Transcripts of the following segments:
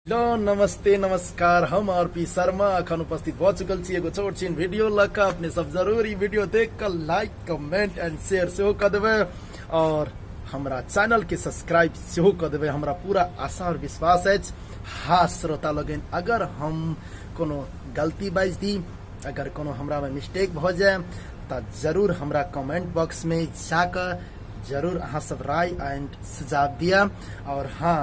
hello नमस्ते नमस्कार हम आर पी शर्मा अखन उपस्थित भ चुकल छी एगो छोट छीन वीडियो लऽ कऽ अपने सब जरूर ई वीडियो देख कऽ लाइक कमेंट एंड शेयर सेहो कऽ देबै और हमरा चैनल के सब्सक्राइब सेहो कऽ देबै हमरा पूरा आशा और विश्वास अछि हाँ श्रोता लोगन अगर हम कोनो गलती बाजि दी अगर कोनो हमरा में मिस्टेक भऽ जाए तऽ जरूर हमरा कमेंट बॉक्स में जाकऽ जरूर अहाँ सब राय एंड सुझाव दिया और हाँ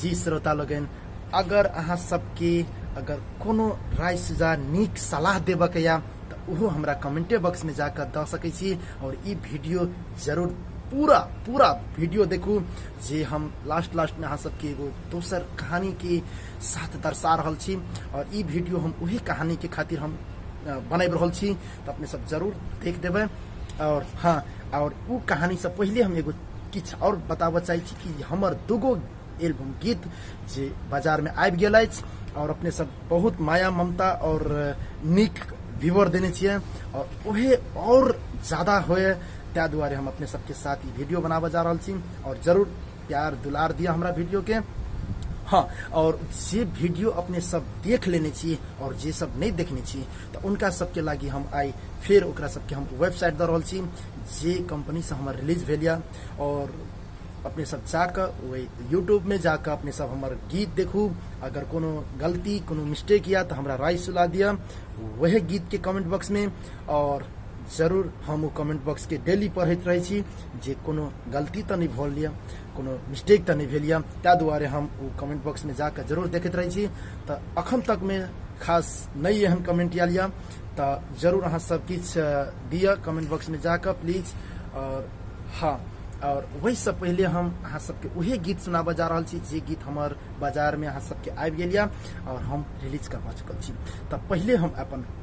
जी श्रोता लोगन अगर अहाँ सबके अगर कोनो राय सुझाव नीक सलाह देबऽ के या तऽ ओहो हमरा कमेंटे बॉक्स में जाकर दऽ सकै छी और ई वीडियो जरूर पूरा पूरा वीडियो देखू जे हम लास्ट लास्ट में अहाँ सबके एगो दोसर कहानी के साथ दर्शा रहल छी और ई वीडियो हम उहे कहानी के खातिर हम अ, बनाबि रहल छी तऽ अपने सब जरूर देख देबै और हाँ और उ कहानी से पहले हम एगो किछ और बताबऽ चाहै छी कि हमर दूगो एल्बम गीत जे बाजार में आबि गेल अछि और अपने सब बहुत माया ममता और नीक व्यूअर देने छियै और ओहे और ज्यादा होए ताहि दुआरे हम अपने सबके साथ ई वीडियो बनाबऽ जा रहल छी और जरूर प्यार दुलार दिया हमरा वीडियो के हाँ और जे वीडियो अपने सब देख लेने छी और जे सब नहीं देखने छी तो उनका सबके लागी हम आई फिर ओकरा सबके हम वेबसाइट दऽ रहल छी जे कंपनी से हमर रिलीज भेल यऽ और अपने सब जाकऽ वही यूट्यूब में जाकऽ अपने सब हमर गीत देखू अगर कोनो गलती कोनो मिस्टेक या तो हमरा राय सुला दिया वह गीत के कमेंट बॉक्स में और जरूर हम ओ कमेंट बॉक्स के डेली पढ़ैत रहै छी जे कोनो गलती तऽ नहि भऽ लिअ कोनो मिस्टेक तऽ नहि भेल यऽ ताहि दुआरे हम ओ कमेंट बॉक्समे जाकऽ जरूर देखैत रहै छी तऽ अखन तकमे खास नहि एहन कमेंट आयल यऽ तऽ जरूर अहाँ सब किछु दिअ कमेंट बॉक्समे जाकऽ प्लीज आओर हँ आओर ओहिसँ पहिले हम अहाँ सबके उहे गीत सुनाबऽ जा रहल छी जे गीत हमर बाजारमे अहाँ सबके आबि गेल यऽ आओर हम रिलीज करबा चुकल छी तऽ पहिले हम अपन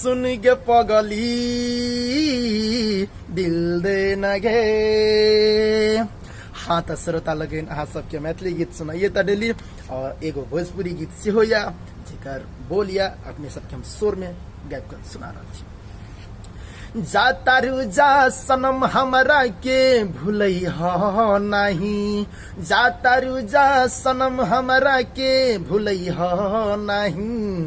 सुन गे पगली दिल दे नगे हाँ तो श्रोता लगेन अहाँ सबके मैथिली गीत सुनाइए तो डेली और एगो भोजपुरी गीत से हो या जेकर बोल या अपने सबके हम शोर में गायब कर सुना रहा छी जा तारू जा सनम हमरा के भूलै हो नहीं जा तारू जा सनम हमरा के भूलै हो नहीं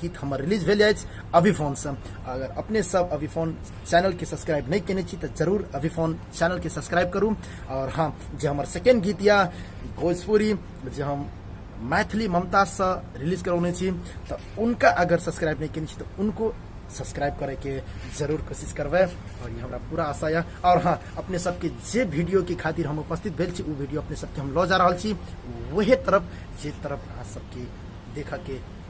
गीत हमर रिलीज भेल अछि अभिफोन से अगर अपने सब अभिफोन चैनल के सब्सक्राइब नहीं केने छी तो जरूर अभिफोन चैनल के सब्सक्राइब करू और हाँ जे हमर सेकेंड गीत या भोजपुरी जे हम मैथिली ममता से रिलीज करौने छी तो उनका अगर सब्सक्राइब नहीं केने छी तो उनको सब्सक्राइब करे के जरूर कोशिश करबे और ये हमरा पूरा आशा है और हाँ अपने सबके जे वीडियो के खातिर हम उपस्थित भेल छी उ वीडियो अपने सबके हम लऽ जा रहल छी वहे तरफ जे तरफ अहाँ सबके देखऽ के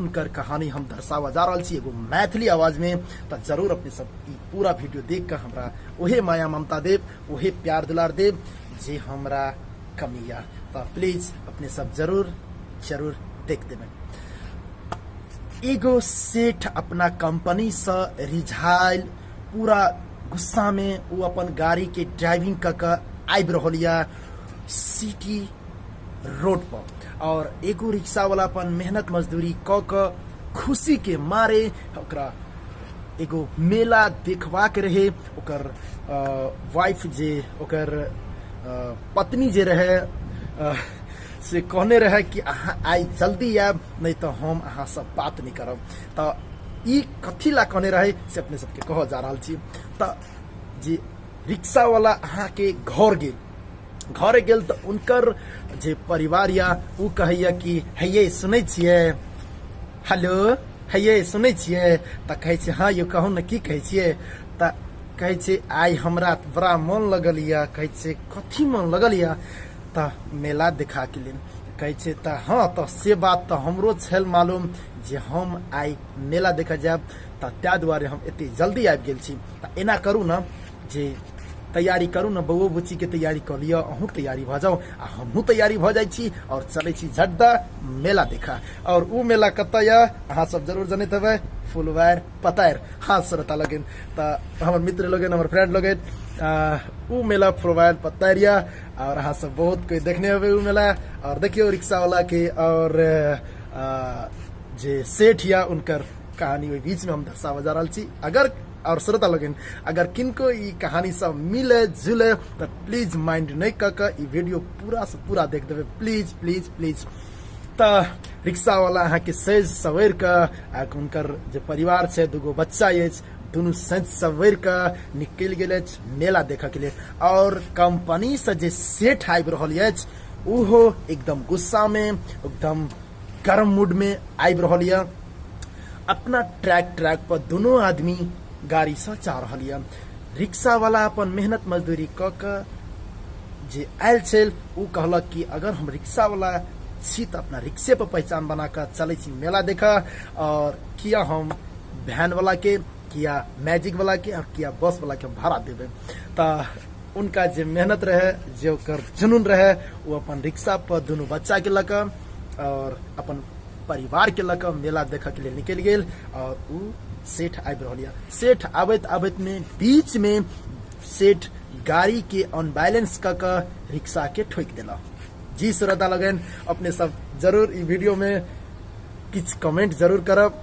उनकर कहानी हम दर्शावा जा रहल छी एगो मैथिली आवाज में तो जरूर अपने सब ई पूरा वीडियो देख कर हमरा ओहे माया ममता देव ओहे प्यार दुलार देव जे हमरा कमी या तो प्लीज अपने सब जरूर जरूर देख देबन एगो सेठ अपना कंपनी से रिझाइल पूरा गुस्सा में वो अपन गाड़ी के ड्राइविंग क के आबि रहल या सिटी रोड पर और एगो रिक्शा वाला अपन मेहनत मजदूरी क क खुशी के मारे ओकरा एगो मेला देखवा के रहे ओकर वाइफ जे ओकर अ, पत्नी जे रहे अ, से कहने रहे कि अहाँ आइ जल्दी आयब नहीं तो हम अहाँ से बात नहीं करब तो ई कथी ला कहने रहे से अपने सबके कह जा रहल छी तो जे रिक्शा वाला अहाँ के घर गेल घरे गेल तऽ उनकर जे परिवार या उ कहैया कि हैये सुनै छियै हेलो हैये सुनै छियै तऽ कहै छै हँ यौ कहू ने की कहै छियै तऽ कहै छै आइ हमरा तऽ बड़ा मोन लगल यऽ कहै छै कथी मोन लगल यऽ तऽ मेला देखा के लेल कहै छै तऽ हँ तऽ से बात तऽ हमरो छल मालूम जे हम आइ मेला देखऽ जायब तऽ ताहि दुआरे हम एते जल्दी आबि गेल छी तऽ एना करू ने जे तैयारी करू ने बौओ बुच्ची के तैयारी कर लियो अहूँ तैयारी भ जाओ आ हमहूँ तैयारी भ जाइ छी और चले छी झड्डा मेला देखा और उ मेला कत ये अहाँ सब जरूर जनैत हेबै फुलवार पतार हाँ श्रोता लगन त हमर मित्र लगन हमर फ्रेंड लगन उ मेला फुलवार पतार ये और अहाँ सब बहुत कोई देखने हेबै उ मेला और देखियो रिक्शा वाला के और जे सेठ या उनकर कहानी ओहि बीच में हम दर्शाबऽ जा रहल छी अगर और श्रोता लोगन अगर किनको ई कहानी सब मिले जुले तो प्लीज माइंड नहीं कर के ई वीडियो पूरा से पूरा देख देवे प्लीज प्लीज प्लीज त रिक्शा वाला अहाँ के सज सवेर के आ के हुनकर जे परिवार छै दूगो बच्चा अछि दुनू सज सवेर के निकल गेल अछि मेला देखऽ के लिए और कंपनी से जे सेठ आबि रहल अछि ओहो एकदम गुस्सा में एकदम गर्म मूड में आबि रहल यऽ अपना ट्रैक ट्रैक पर दोनों आदमी गाड़ी से जा रहल यऽ रिक्शा वाला अपन मेहनत मजदूरी क के जे आयल छल ओ कहलक कि अगर हम रिक्शा वाला छी तो अपना रिक्शे पर पहचान बना के चले छी मेला देख और किया हम वैन वाला के किया मैजिक वाला के और किया बस वाला के भाड़ा देवे तो उनका जे मेहनत रहे जे ओकर जुनून रहे ओ अपन रिक्शा पर दुनू बच्चा के लक और अपन परिवार के लक मेला देखे के लिए निकल गए और उ सेठ आबि रहल यऽ सेठ आबैत आबैत में बीच में सेठ गाड़ी के अनबैलेंस क के रिक्शा के ठोक देला जी श्रद्धा लगन अपने सब जरूर ई वीडियो में किछ कमेंट जरूर करब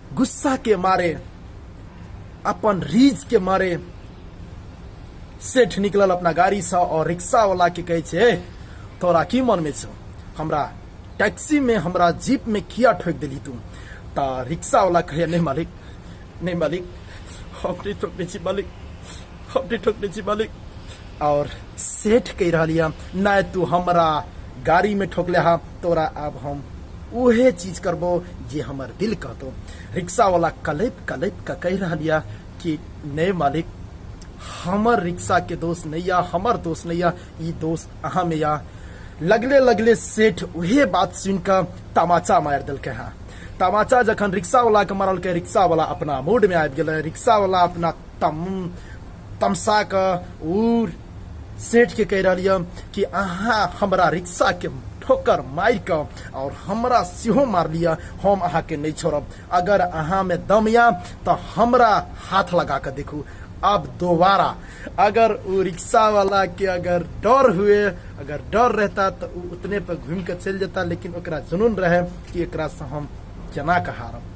गुस्सा के मारे अपन रीज के मारे सेठ निकलल अपना गाड़ी से और रिक्शा वाला के कहे छे "ए, तोरा की मन में छो हमरा टैक्सी में हमरा जीप में किया ठोक दिली तू ता रिक्शा वाला कहे नहीं मालिक नहीं मालिक हम नहीं ठोक दी छी मालिक हमने ठोक दे छी मालिक और सेठ कह रहा लिया ना तू हमरा गाड़ी में ठोकले हा तोरा अब हम उहे चीज करबो जे हमर दिल कहतो रिक्शा वाला कलेप कलेप का कह रहा लिया कि नहीं मालिक हमर रिक्शा के दोस्त नहीं या हमर दोस्त नहीं या ई दोस्त अहाँ में या लगले लगले सेठ उहे बात सुन के तमाचा मार दिल के हाँ तमाचा जखन रिक्शा वाला के मारल के रिक्शा वाला अपना मूड में आबि गेल रिक्शा वाला अपना तम तमसा के उ सेठ के कह रही कि अहाँ हमरा रिक्शा के ठोकर मार के और हमरा सेहो मार लिया हम अहाँ के नहीं छोड़ब अगर अहाँ में दम या तो हमरा हाथ लगा के देखू अब दोबारा अगर वो रिक्शा वाला के अगर डर हुए अगर डर रहता तो उ उतने पर घूम के चल जाता लेकिन ओकरा जुनून रहे कि एकरा से हम जना के हारब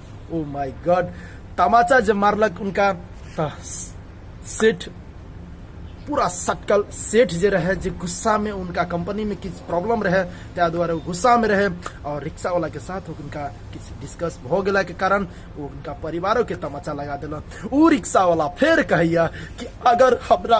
ओ माय गॉड तमाचा जे मारलक उनका तऽ सेठ पूरा सटकल सेठ जे रहे जे गुस्सा में उनका कंपनी में किछु प्रॉब्लम रहे ताहि दुआरे ओ गुस्सा में रहे और रिक्शा वाला के साथ उनका किछु डिस्कस भ गेला के कारण ओ उनका परिवारो के तमाचा लगा देलक ओ रिक्शा वाला फेर कहैया कि अगर हमरा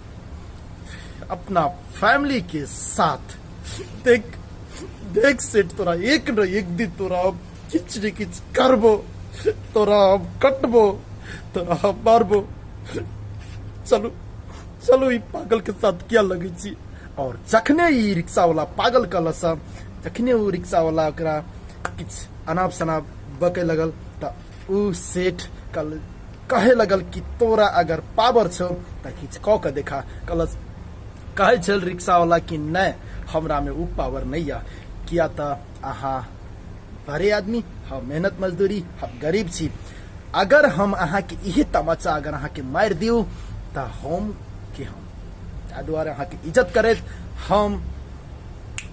अपना फैमिली के साथ देख देख सेठ तोरा एक न एक दिन तोरा अब किच ने किच करबो तोरा अब कटबो तोरा अब मारबो चलू चलू ई पागल के साथ क्या लगे छी और जखने ई रिक्शा वाला पागल कहल सब जखने ओ रिक्शा वाला ओकरा किछ अनाप शनाप बके लगल तऽ उ सेठ कल कहे लगल कि तोरा अगर पावर छौ त किछ क के देखा कल कहे छल रिक्शा वाला कि नै हमरा में उ पावर नै या किया त अहा बड़े आदमी हा मेहनत मजदूरी हा गरीब छी अगर हम अहा के इहे तमाचा अगर अहा के मार दियो त हम के हम ताहि दुआरे अहा के इज्जत करैत हम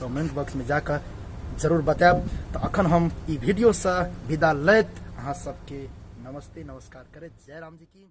कमेंट बॉक्स में जाकर जरूर बतायब तो अखन हम ई वीडियो से विदा लैत अहाँ सबके नमस्ते नमस्कार करैत जय राम जी की